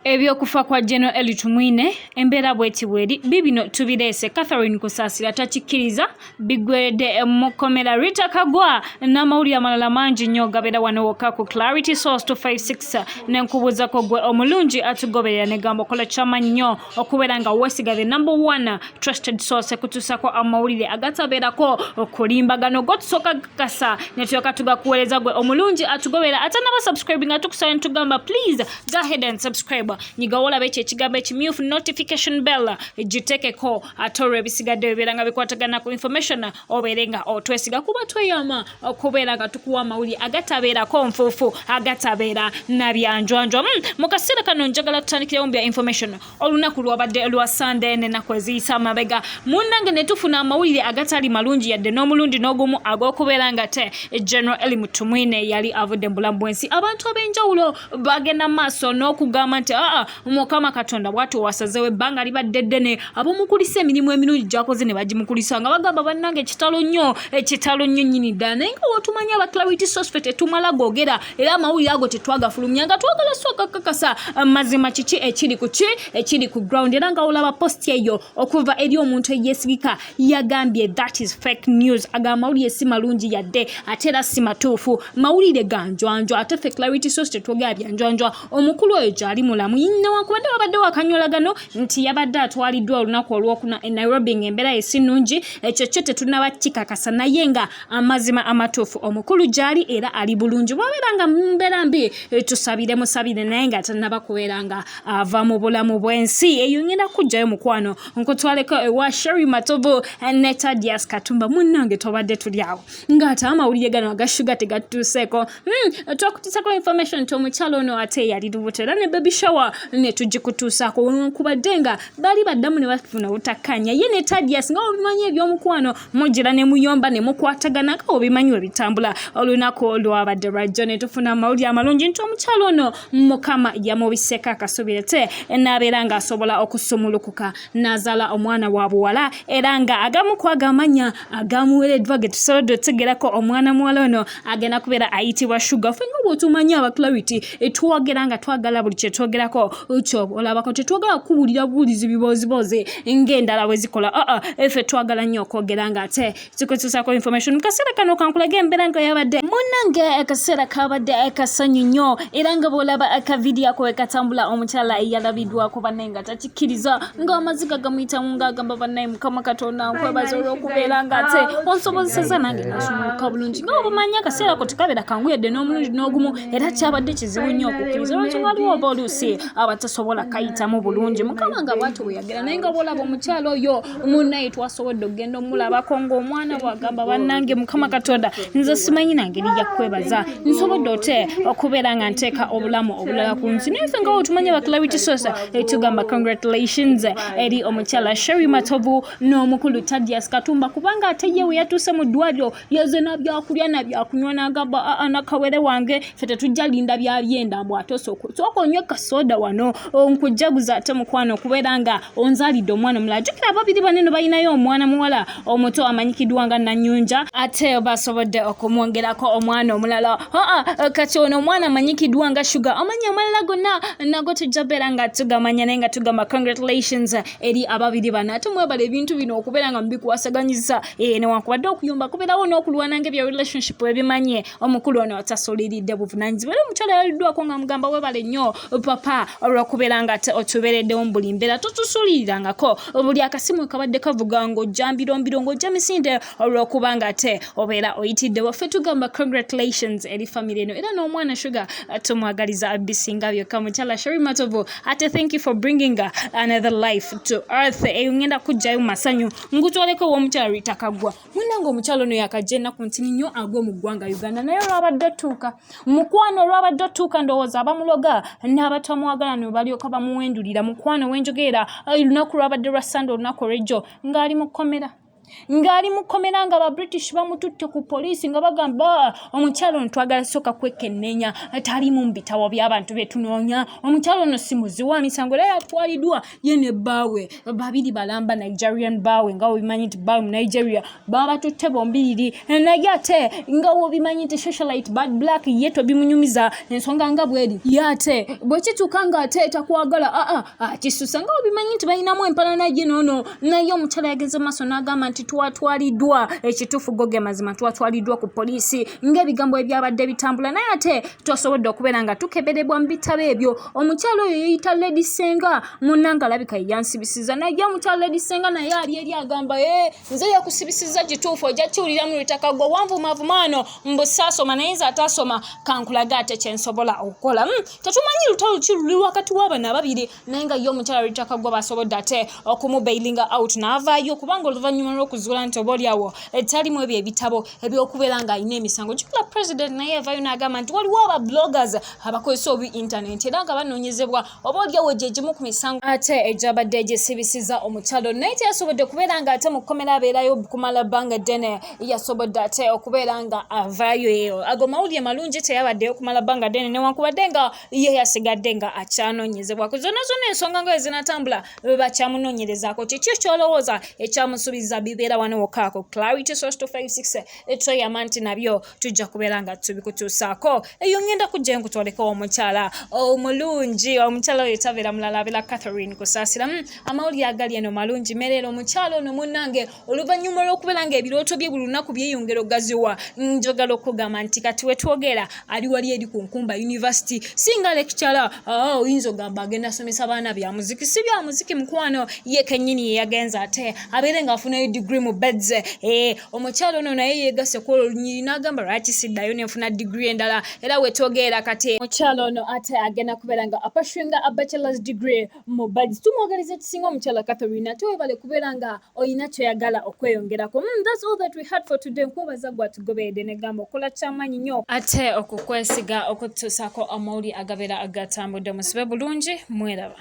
Eby'okufa kwa General Elly Tumwine embeera bweti bweri bibino tubireese Catherine Kusaasira takikkiriza biggweredde mu kkomera Rita Kagwa n'amawulire amalala mangi nnyo gabeera wano wokka ku Clarity Source 256 ne nkubuuzako gwe omulungi atugoberera ne gamba okola ky'amaanyi nnyo okubeera nga weesiga the number one trusted source ekutuusako amawulire agatabeerako okulimbagano gotusooka kasa netulyoka tugakuweereza gwe omulungi atugobera ate naba subscribing atukusaba netugamba please go ahead and subscribe nyigawo olaba ekyo ekigambo ekimyufu notification bell gitekeko ate olwo ebisigadde bibeera nga bikwatagana ku information obeere nga otwesiga kuba tweyama okubeera nga tukuwa amawulire agatabeerako nfuufu agatabeera nabyanjwanjwa hmm, mu kaseera kano njagala tutandikirewo mu bya information olunaku lwabadde lwa sande nenaku eziyisa amabega munange netufuna amawulire agatali malungi yadde n'omulundi n'ogumu ag'okubeera nga te general eli mutumwine yali avudde mu bulamu bwensi abantu ab'enjawulo bagenda maaso n'okugamba nti aa mukama katonda bwati owasazewo ebbanga libadde ddene abamukulisa emirimu emirungi gyakoze ne bagimukulisa nga bagamba bannange kitalo nnyo ekitalo nnyo nyini ddala naye nga wotumanya abaklawiti sosfe tetumala gogera era amawulire ago tetwagafulumya nga twagala so kakakasa eh, mazima kiki ekiri ku ki ekiri ku ground era nga olaba post eyo okuva eri omuntu eyesigika yagambye that is fake news aga amawulire si malungi yadde ate era si matuufu mawulire ga njwanjwa ate fe clarity source tetwogera bya njwanjwa omukulu oyo gyali mulamu newankubadde wabadde wakanyolagano nti yabadde atwaliddwa olunaku olwokuna e nairobi ngaembeera ye si nnungi ekyo kyo tetunaba kikakasa naye nga amazima amatuufu omukulu gyali era ali bulungi bwabeera nga mumbeera mbi eh, tusabire musabire naye nga tanaba kubeera nga ava mu bulamu bwensi eyo ngenda kujjayo mukwano nkutwaleko ewa eh, sheri matobo eh, ne tadias katumba munnange twabadde tuli awo ngaate amawulire gano agashuga tegatuuseeko hmm, twakutuusako information nti omukyalo ono ate yali lubuto era ne baby shower ne tugikutuusaako kubadde nga bali baddamu ne bafuna obutakkaanya ye ne tadias nga obimanyi ebyomukwano mujira ne muyomba ne mukwatagana nga obimanyi we bitambula olunaku olwabadde lwajjo ne tufuna amawulire amalungi nti omukyalo ono mukama yamubiseeko akasubire te n'abeera ng'asobola okusumulukuka n'azaala omwana wa buwala era nga agamu ku agamanya agamuwereddwa ge tusobodde otegerako omwana muwala ono agenda kubeera ayitibwa sugar fe nga bwotumanyi aba clarity etwogera nga twagala buli kyetwogerako kyoba olabako tetwagala kuwulira buwulizi bibooziboozi ngaendala bwe zikola aa ah, ah, efe twagala nnyo okwogera nga ate tukozesako information mu kaseera kano kankulaga embeera nga yabadde munange akaseera kabadde akasanyu nnyo era nga bwolaba akavidiyo ako wekatambula omukyala yalabiddwako banne nga taki kkiriza ng'amaziga gamuyitamu ng'agamba bannaye mukama katonda nkwebaza olw'okubeera nga ate onsobozeseza nange nasumuluka bulungi nga obumanyi akaseera ko tekabeera kangu yadde n'omulundi n'ogumu era kyabadde kizibu nnyo okukkiriza lwaki waliwo oba oluusi abatasobola kayitamu bulungi mukama nga bwati bweyagera naye nga bwolaba omukyalo oyo munaye twasobodde okugenda omulabako ngaomwana bwagamba banange mukama katonda nze simanyi nangeri yakwebaza nsobodde ote okubeera nga nteeka obulamu obulala ku nsi naye fe ngawo otumanya baclarity sosa etugamba eh, congratulations eri omukyala sheri matovu n'omukulu tadias katumba kubanga ate ye weyatuuse mu ddwaliro yeze nabyakulya nabyakunywa nagamba aa ah, ah, nakawere wange fe tetujja linda byabyenda mbu ate sooka onywe kasoda wano nkujjaguza ate mukwano okubeera nga onzalidde omwana omulala jukira ababiri baneno balinayo omwana muwala omuto amanyikiddwa nga nanyunja ate basobodde okumwongerako omwana omulala aa ah, kati ono omwana amanyikiddwa nga shuga amanya amalala gonna nago tujja beera nga tugamanya naye nga tugamba congratulations eri ababiri bano ate mwebala ebintu bino okubeera nga mubikuwasaganyiza Eh, newankubadde okuyomba kubeerawo n'okulwana ng'ebya relationship ebimanye omukulu ono atasuliridde buvunaanyizibwa era omukyala yaliddwako nga mugamba webale nnyo papa olwokubeera nga ate otubeereddewo mu buli mbeera totusulirirangako buli akasimu kabadde kavuga ng'ojjambirombiro ng'ojja misinde olwokuba nga ate obeera oyitiddewo ffe tugamba congratulations eri famire eno era n'omwana sugar tumwagaliza bisinga byokka mukyala sheri matovu ate thank you for bringing another life to earth eyo ngenda kujjayo masanyu ngutwaleko ew'omukyala rita kagwa munange omukyala ono yakajja ennaku ntini nnyo agwe mu ggwanga uganda naye olwabadde otuuka mukwano olwabadde otuuka ndowooza abamuloga n'abatamwagala ne balyoka bamuwendulira mukwano wenjogeera olunaku lwabadde lwa sande olunaku olwejjo ng'ali mu kkomera ng'ali mu kkomera nga ba british bamututte ku poliisi nga bagamba ah, omukyalo ono twagala sooka kwekenneenya taliimu mu bitabo by'abantu betunoonya omukyalo ono si muzi wa misango era yatwaliddwa ye ne bbaawe babiri balamba nigerian bbaawe nga wobimanyi nti bbaawe mu nigeria babatutte bombiriri eh, naye ate nga wobimanyi nti socialite bad black ye tobimunyumiza ensonga nga bweri ye ate bwekituuka nga ate takwagala aa ah, ah, akisusa nga wobimanyi nti balinamu empalana ye noono naye omukyala yagenze maaso n'agamba nti twatwaliddwa ekituufu go ge mazima twatwaliddwa ku poliisi ng'ebigambo ebyabadde bitambula naye ate tosobodde okubeera nga tukeberebwa mu bitabo ebyo omukyalo oyo yeyita lady senga munanga alabika yeyansibisiza naye omukyalo lady senga naye ali eri agamba e eh, nze yakusibisiza kituufu ojja kiwulira mu lutaka gwe wanvumavumaano mbusaasoma naye nze ataasoma kankulaga ate kyensobola okukola hmm, tetumanyi lutalo ki luli wakati w'abana ababiri naye nga ye omukyalo lutaka gwe basobodde ate okumubailinga out naavaayo kubanga oluvannyuma lw'okuzuula nti oba olyawo etalimu ebyo ebitabo ebyokubeera ng'alina emisango kikula president naye yavayo n'agamba nti waliwo aba bloggers abakozesa obi internet era nga banoonyezebwa oba olyawo gye gimu ku misango ate egyabadde gyesibisiza omukyalo naye teyasobodde okubeera nga ate mu kkomera abeerayo kumala bbanga ddene yasobodde ate okubeera nga avaayo eyo ago mawulire malungi teyabaddeyo kumala bbanga ddene newankubadde nga ye yasigadde nga akyanoonyezebwa ku zonna zonna ensonga nga ezinatambula bakyamunonyerezako kiki kyolowooza ekyamusubiza bibeera wano wokaako clarity source 256 etweyama nti nabyo tujja kubeera nga tubikutuusaako eyo ngenda kujja enkutwaleko omukyala omulungi omukyala oyo tabeera mulala abera catherine kusaasira hmm, amawulire agali eno malungi mereero omukyala ono munange oluvannyuma olw'okubeera nga ebirooto bye buli lunaku byeyongera ogaziwa njogala okugamba nti kati wetwogera ali wali eri ku nkumba univesity singa lekicara ah, oyinza ogamba agenda asomesa baana bya muziki si bya muziki mukwano ye kenyini yeyagenza ate abeere nga afunayo digiri mu bedze eh, omukyalo ono naye yegase ku olwo olunyiri n'agamba lwaki siddayo nenfuna digiri endala era wetwogeera kati omukyalo ono ate agenda kubeera nga apashinga abachelors degree Mubadi tumwagaliza ekisinga omukyala Catherine ate webale kubeera nga olina kyoyagala okweyongerako mm, that's all that we had for today nkwebaza gwe atugoberedde negamba okola kyamaanyi nyo ate okukwesiga okututuusako amawuli agabeera agatambudde musibe bulungi mweraba